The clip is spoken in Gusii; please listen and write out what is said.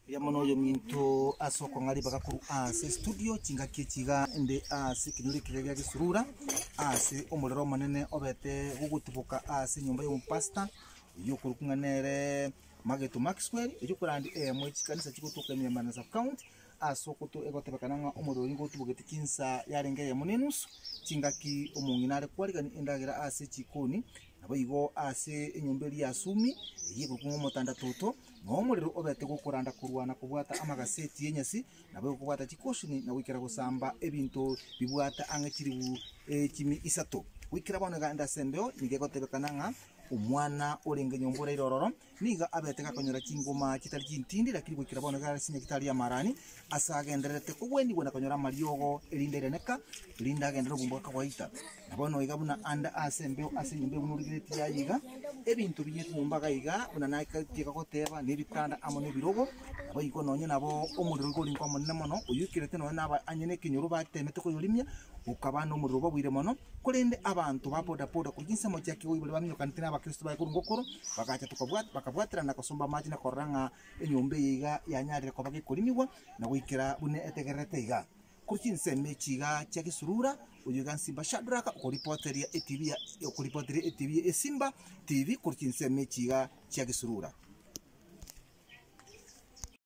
Erio amo noyominto ase okong'a ribaga korwa ase estudio chingaki echi iga inde ase ekenyoro ekiya gia gesurura ase omorero omonene obete gogotiboka ase enyomba y'omopasta oyio okorokwa ng'a nere Mageto Maxwell oyio okorandi eyemo ye chikanisa chigotoka ime ya Murang'a sub county Ase okotwa egotebekana ng'a omorero nigo otubogete chinsaa yarenge eyemo ne enusu, chingaki omong'ina are kwarigani endagera ase chikoni, naboigo ase enyomba eria ya Sumi, eyio ekorokwa ng'a Omotandatoto, na omorero obete gokoranda korwa na kobwata amagaseti y'enyasi, naboigo kobwata chikosini na goikera gosamba ebinto bibwate ang'e chilifu echimi isato. Goikera bono eganda ase embeo nigo egotebekana ng'a omwana orenge nyomba oraire ororo, Nigo abete gakonyora chingoma chitari chintindi, lakini goikera bono iga arasinya gitari ya Marani, ase agendererete kogwenigwa na konyora amariogo, erinde rianeka, erinde agende nobomba bw'akawaita. Na bono iga buna ande ase embeo ase enyomba eyo buna origeretie aye iga, ebinto biyete nyomba iga iga, buna natiga goteba, na ebitanda amo na ebirogo, naboigo nonya nabo omorero iga ore inkomonene mono, oyoikerete nonya naba anye nekenyoro batemete koyorimia, Gokaba nomorero obogoire mono, korende abanto ba bodaboda korwa chinsemo chia Kigoi baria baminyokanete n'Abakristo baye korwa Ngokoro, bagacha tokabwat bakabwaterana gosomba amache na korora ng'a enyomba eye iga yanyarire koba gekorimigwa na goikera buna etegererete iga. Korwa chinsemo echi iga chia Gesurura, oyio iga Nsimba Shadrack okoripoteria eTV ya okoripoteria eTV ya Esimba TV korwa chinsemo echi iga chia Gesurura.